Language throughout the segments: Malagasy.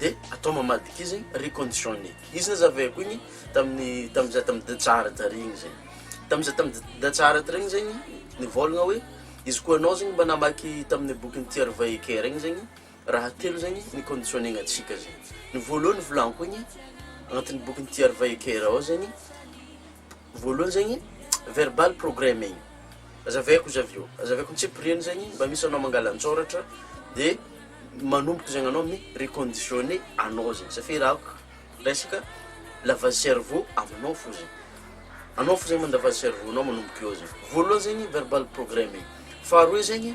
de atao mamadika izy reconditionne izy nazavaiko igny tamin'ny tamin'ny zah tamin'ny datsahara tary igny zay tamin'ny zah tamin'ny da- datsahara tary igny zegny nivôlagna hoe izy koa anao zegny mba namaky tamin'ny bokin'i Thierry Weicker igny zegny raha telo zegny niconditionner-gna antsika zay ny voalohany volagno igny agnatin'ny bokin'i Thierry Weicker ao zegny Voalohany zegny verbal programming, azavaiko izy avy eo, azavaiko antsipiriany zegny, mba misy anao mangala an-tsôratra de manomboka zegny anao mi reconditionner anao zegny satria raha ko resaka lavage cerveau aminao fo zegny, anao fo zegny mandavazy cerveau-nao manomboka eo zegny, voalohany zegny verbal programming, faharoe zegny.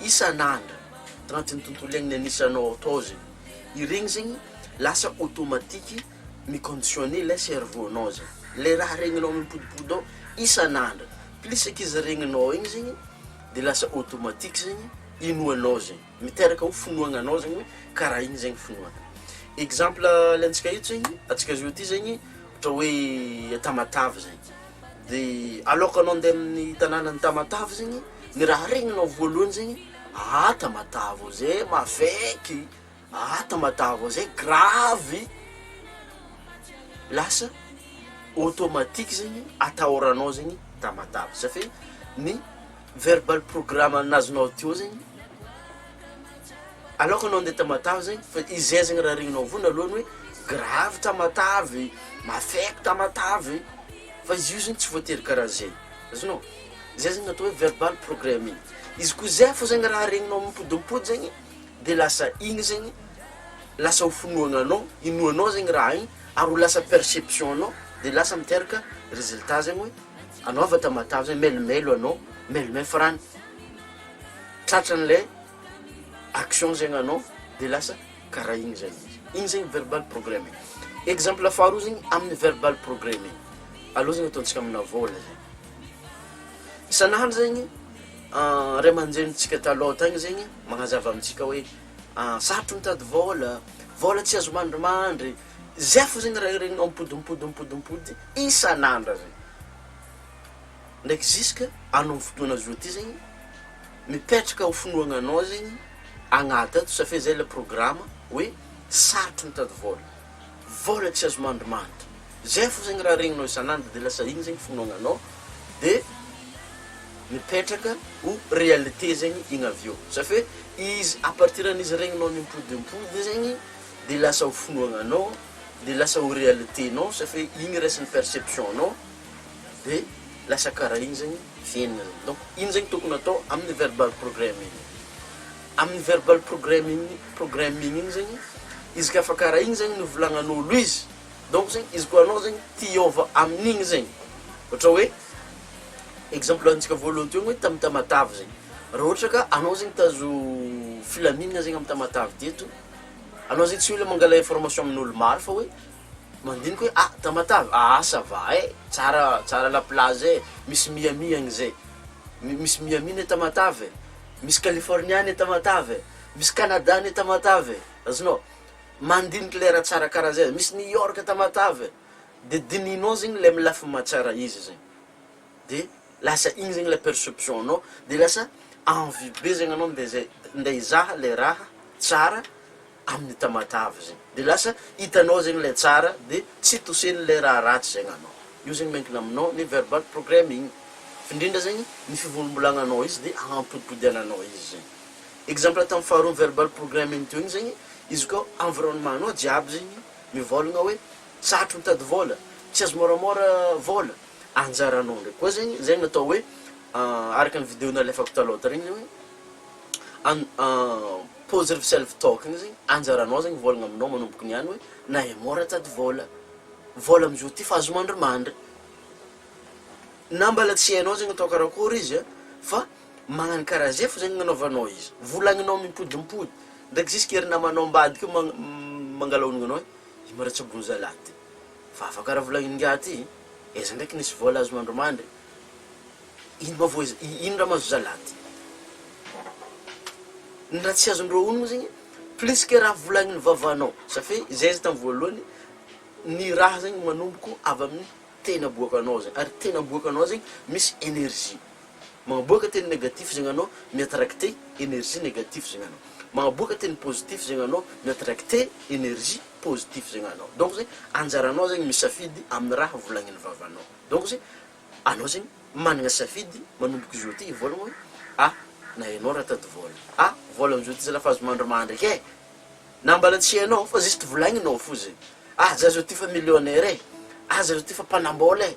isan'andro tanatin'ny tontolo iainana nisy anao ato ao zegny, iregny zegny lasa automatique mi-conditionner ilay cerveau nao zay, le raha regninao mipodipody ao isan'andro, plus ankizy zay regninao igny zegny de lasa automatique zegny inoanao zegny, miteraka ho finoagna anao zegny hoe karaha igny zegny finoagna, exemple alentsika eto zegny, antsika zao ty zegny ohatra hoe Tamatave zay. de aloaka anao andeha amin'ny tanànan'i Tamatave zegny, ny raha regninao voalohany zegny, aa Tamatave ô zay mavaiky, aa Tamatave ô zay gravy, lasa automatique zegny atahoranao zegny Tamatave, satria ny. Verbal program an'ny azonao teo zegny, aloka anao ndeha tamatave zegny fa izay zegny raha regninao voany aloha ny hoe gravy tamatave, mafaiky tamatave, fa izy io zegny tsy voatery karaha zay, azonao? zay zegny atao hoe verbal programming, izy koa zay fô zegny raha regninao mipodimpody zegny de lasa igny zegny lasa ho finoagna anao, inoanao zegny raha igny ary ho lasa perception-nao de lasa miteraka résultat zegny hoe. anao avy Tamatave zay melomelo anao melomel frany tratran'ilay action zegny anao de lasa karaha igny zay izy igny zegny verbal programming exemple faharoa zegny amin'ny verbal programming aleo zegny ataontsika amina vôla zay isan'andro zegny ray aman-drenintsika taloha tagny zegny magnazava amintsika hoe sarotro mitady vôla vôla tsy azo mandrimandry Zay fo zegny raha regninao mipody mipody mipody mipody isan'andra zay ndraiky ziska anao fotoana zao ty zegny mipetraka ho finoagnanao zegny agnaty ato safia zay le programa hoe sarotro mitady vôla vôla tsy azo mandrimandry zay fo zegny raha regninao isan'andra de lasa igny zegny finoagnanao de mipetraka ho réalité zegny igny avy eo safia izy à partir an'izy regninao ny mipody mipody zegny dia lasa ho finoagnanao, dia lasa ho realiténao satria igny raisin'ny perception-nao, dia lasa karaha igny zegny fiaignana. Donc ino zegny tokony atao amin'ny verbal programming? Amin'ny verbal programming programming igny zegny, izy ka fa karaha igny zegny novolagnan'ôlo izy, donc zegny izy koa anao zegny te hiôva amin'igny zegny, ohatra hoe exemple antsika voalohany teo hoe tamin'ny tamatave zegny, raha ohatra ka anao zegny tazo filaminana zegny amin'ny tamatave teto. Anao zay tsy mila mangala information amin'olo maro fa hoe mandinika hoe ah Tamatave ah ah ça va eh tsara tsara la plage eh misy Miami agny zay mi- misy Miami anie Tamatave eh misy California anie Tamatave eh misy Canada anie Tamatave eh azonao mandiniky le raha tsara karaha zay misy New York Tamatave eh de dinihinao zegny le amy lafiny maha tsara izy zegny. de lasa igny zegny la perception anao de lasa envie be zegny anao nde zay nde hizaha le raha tsara amin'ny tamatave zegny de lasa hitanao zegny le tsara de tsy tosen'le raha ratsy zegny anao, io zegny miankina aminao ny verbal programming f'indrindra zegny ny fivolimbolagnanao izy de hampodimpodiananao izy zegny, exemple tam faharoa ny verbal programming teo igny zegny izy koa environnement-nao jiaby zegny mivôlagna hoe. tsy hatry mitady vola, tsy azo môramôra vola, anjaranao ndraiky koa zegny, zegny atao hoe araka ny video nalefako talôha tary igny zegny hoe an positive self talk igny zegny anjaranao zegny vôlagna aminao manomboka niany hoe nahay môra nitady vôla, vôla am'zao ty fa azo mandrimandry, na mbôla tsy hainao zegny atao karakôry izy a fa magnano karaha zay fao zegny agnanaovanao izy, volagninao mimpodimpody ndraiky jusk'ery namanao ambadika io magn- mangalaonigna anao hoe. I Maratsabony zalahy ty fa afaka raha volagniny ingahy ty aiza ndraiky nisy vola azony andro mandry ino ma voa ino raha mahazo zalahy ty ny raha tsy azondreo onony zegny plus que raha volagniny vavanao za fe zay izy tamy voalohany ny raha zegny manomboko avy aminy tena aboakanao zegny ary tena aboakanao zegny misy energie Mahaboaka teny negatif zegny anao mi-attracte energie negatif zegny anao. Mahaboaka teny positif zegny anao mi-attracte energie positif zegny anao. Donc zegny anjaranao zegny misafidy amin'ny raha volagnin'ny vavanao. Donc zegny anao zegny managna safidy manomboka zao ty vôlagna hoe ah na ianao raha tady vôla ah vôla amzao ty zalahy fa azo mandry mandraky eh na mbala tsy ianao fa juste volagninao fô zegny ah za zao ty fa millionnaire eh ah za zao ty fa mpanambôla eh.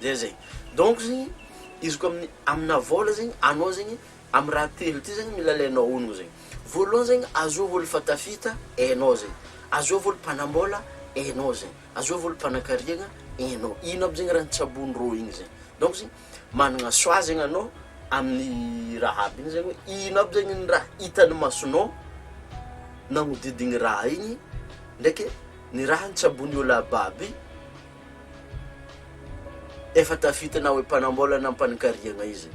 Dia zay. Donc zegny izy koa amin'ny amina vôla zegny anao zegny amin'ny raha telo ty zegny mila alainao honogno zegny. Voalohany zegny azoa olo fatafita enao zegny, azoa olo mpanambôla enao zegny, azoa olo mpanakariagna enao. Ino aby zegny raha nitsaboan'i rô igny zegny. Donc zegny managna choix zegny anao amin'ny raha aby igny zegny hoe ino aby zegny ny raha hitan'ny masonao nagnodidigny raha igny ndraiky ny raha nitsaboan'ny olo aby aby Efa tafitana oe mpanambolana mpanikariagna izy.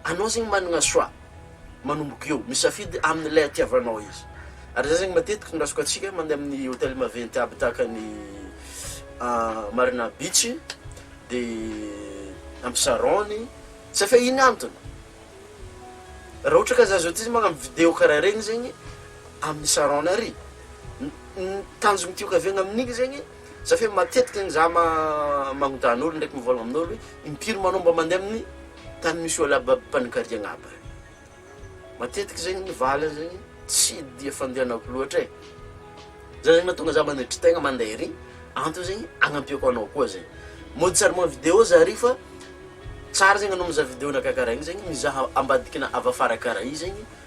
Anao zegny managna choix, manomboka eo, misafidy amin'ilay itiavanao izy. Ary zah zegny matetiky ny raisko atsika mandeha amin'ny hôtel maventy aby tahaka ny Marina Beach de Absarony satria ino antony? Raha ohatra ka zah zao ty magnano video karaha regny zegny amin'ny sarona ary ny tanjogno tiako avy agny amin'igny zegny Za fe matetika ny za ma magnotany olo ndraiky mivolagna aminolo hoe impiry manao mba mandeha amin'ny tany misy olo aby aby mpanokariagna aby regny matetiky zegny ny valiny zegny tsy dia fandehanako loatra e zay zegny mahatonga za manetry tegna mandeha ery antony zegny agnampiako anao koa zegny mody sary ma video za ary fa tsara zegny anao mizaha video-nakah karaha igny zegny mizaha ambadikina avy afara karaha i zegny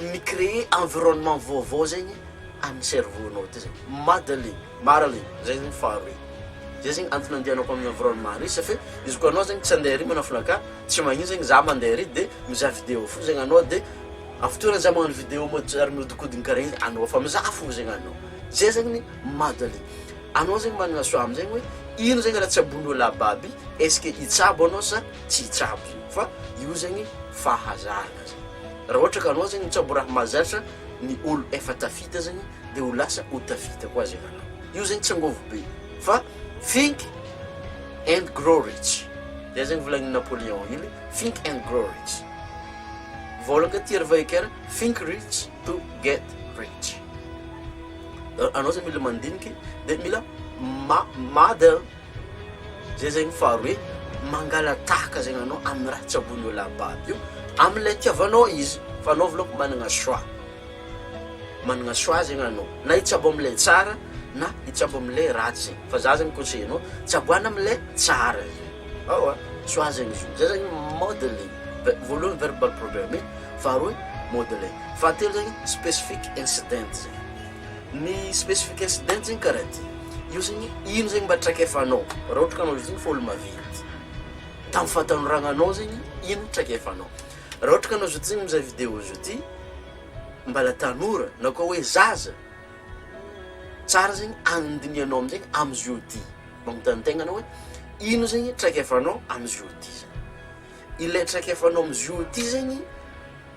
mi-créer environnement vaovao zegny amin'ny cerveau-nao ty zegny, Madeline, Marilyn, zay zegny faharoe, zay zegny antony andehanako amin'ny environnement re safe izy koa anao zegny tsy andeha ary manafina aka tsy magnino zegny za mandeha ary de mizaha vidéo fo zegny anao de amin'ny fotoana za magnano vidéo mody ary mihodinkodina karaha igny anao fa mizaha fo zegny anao, zay zegny ny Madeline, anao zegny managna choix am'zegny hoe ino zegny raha tsaboin'olo ababy est-ce que hitsabo anao sa tsy hitsabo zegny fa io zegny fahazarana. Raha ohatra ka anao zegny mitsaboraha mahazatra ny olo efa tafita zegny de ho lasa ho tafita koa zegny anao. Io zegny tsy angovo be fa think and grow rich. Zay zegny volagnin'i Napoléon Hill think and grow rich. Volagna ty ry Vaheker think rich to get rich. Anao zegny mila mandiniky de mila ma- madel Zay zegny faharoe, mangalatahaka zegny anao amin'ny raha tsy ambon'ny eo lahababo io, amin'ilay itiavanao izy, fa anao volaky managna choix, managna choix zegny anao, na hitsabo amin'ilay tsara na hitsabo amin'ilay ratsy zegny, fa za zany conseiller anao, tsaboana amin'ilay tsara zegny, ewa choix zegny izy io, zay zany mode le voalohany verbal problem, faharoe mode le, fahatelo zegny specific incident zegny. Ny specification date zegny karaha ty, io zegny ino zegny mba traikefanao raha ohatra ka anao zao efa olo maventy, tamin'ny fahatanorananao zegny ino no traikefanao, raha ohatra ka anao zao ty zegny mizaha video zao ty mbala tanora na koa hoe zaza, tsara zegny andinihanao amizay amizio ty, magnontany tegna anao hoe ino zegny traikefanao amizio ty zany, ilay traikefanao amizio ty zegny.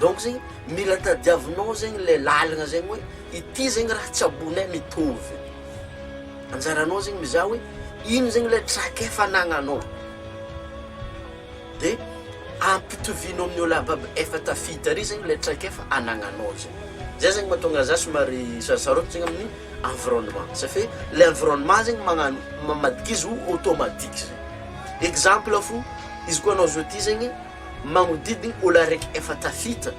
Donc zegny mila tadiavinao zegny le lalagna zegny hoe ity zegny raha tsy ambonay mitovy, anjaranao zegny mizaha hoe ino zegny le traikefa anagnanao de ampitovianao amin'ny olo aby aby efa tafita ary zegny le traikefa anagnanao zay, zay zegny mahatonga za somary sarosaroty zegny amin'ny environnement safe le environnement zegny magnano mamadika izy ho automatique zegny, exemple fo izy koa anao zao ty zegny. Magnodidigny olo araiky efa tafita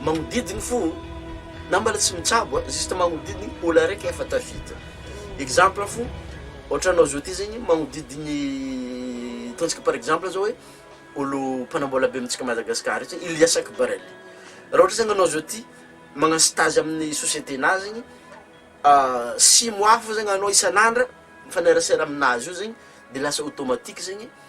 magnodidigny fô na mbala tsy mitsabo a juste magnodidigny olo araiky efa tafita exemple fô ôhatra anao zao ty zegny magnodidigny ataontsika par exemple zao hoe olo mpanambola be amintsika Madagascar aty Ilias Akbarel raha ôhatra zegny anao zao ty magnano stage amin'ny societenà zegny six mois fô zegny anao isan'andra mifanerasera aminazy io zegny de lasa automatique zegny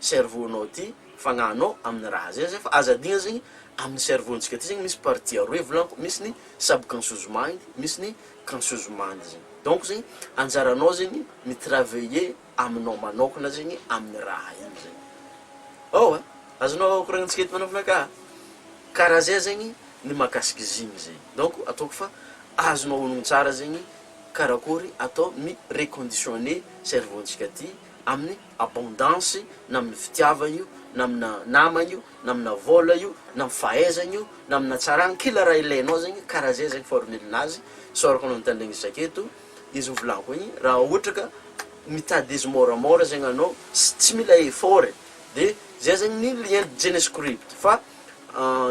cerveau nao ity fagnahinao aminy raha zay zay fa aza adino zegny aminy cerveau ntsika ty zegny misy partie aroe volagno misy ny subconscious mind misy ny conscious mind zegny donc zegny anjaranao zegny mi travailler aminao manokana zegny aminy raha igny zegny ao e azonao koragnintsika eto manokana ka kara zay zegny ny makasiky izy igny zegny donc ataoko fa azonao onogny tsara zegny karakory atao mi reconditionner cerveau ntsika ty aminy abondance na amina fitiavana io na amina namana io na amina vola io na amina fahaizana io na amina tsarana kila raha ilainao zegny karaha zay zegny formule nazy isaorako anao nitandregny isaka eto de izy novolako igny raha ohatra ka mitady izy môramôra zegny anao sy tsy mila effort e de zay zegny ny lien genescript fa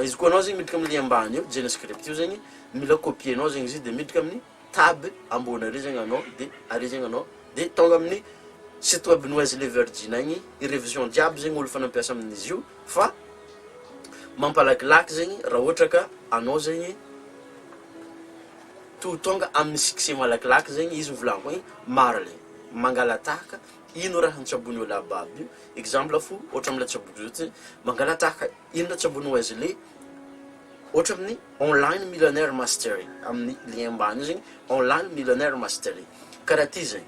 izy koa anao zegny miditra amina lien ambany eo genescript io zegny mila copier nao zegny izy de miditra aminy tab ambony ary zegny anao de ary zegny anao de tonga amin'ny site web ny Wesley Virgin agny i revision jiaby zegny olo efa nampiasa amin'izy io fa mampalakilaky zegny raha ohatra ka anao zegny to tonga amin'ny succès malakilaky zegny izy novolagniky hoe marigny mangalatahaka ino raha an-tsabon'io lahababy io exemple fo ohatra am'le tsaboko zao ty mangalatahaka Inona tsy ambony Wesley? Ohatra amin'ny online millionaire mastery, amin'ny lien ambany io zegny, online millionaire mastery. Karaha ty zegny,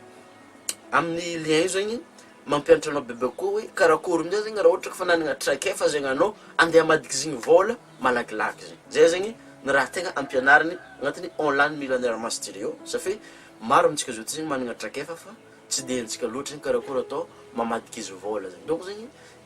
amin'ny lien io zegny mampianatra anao bebe kokoa hoe karakôry amin'izay zegny raha ohatra ka fa nanagna traikefa zegny anao andeha hamadika zegny vôla malakilaky zegny. Zay zegny ny raha tegna ampianariny agnatin'ny online millionaire mastery ao satria maro amintsika zao ty zegny managna traikefa fa tsy de haintsika loatra zegny karakôry atao mamadika izy vôla zegny. Donc zegny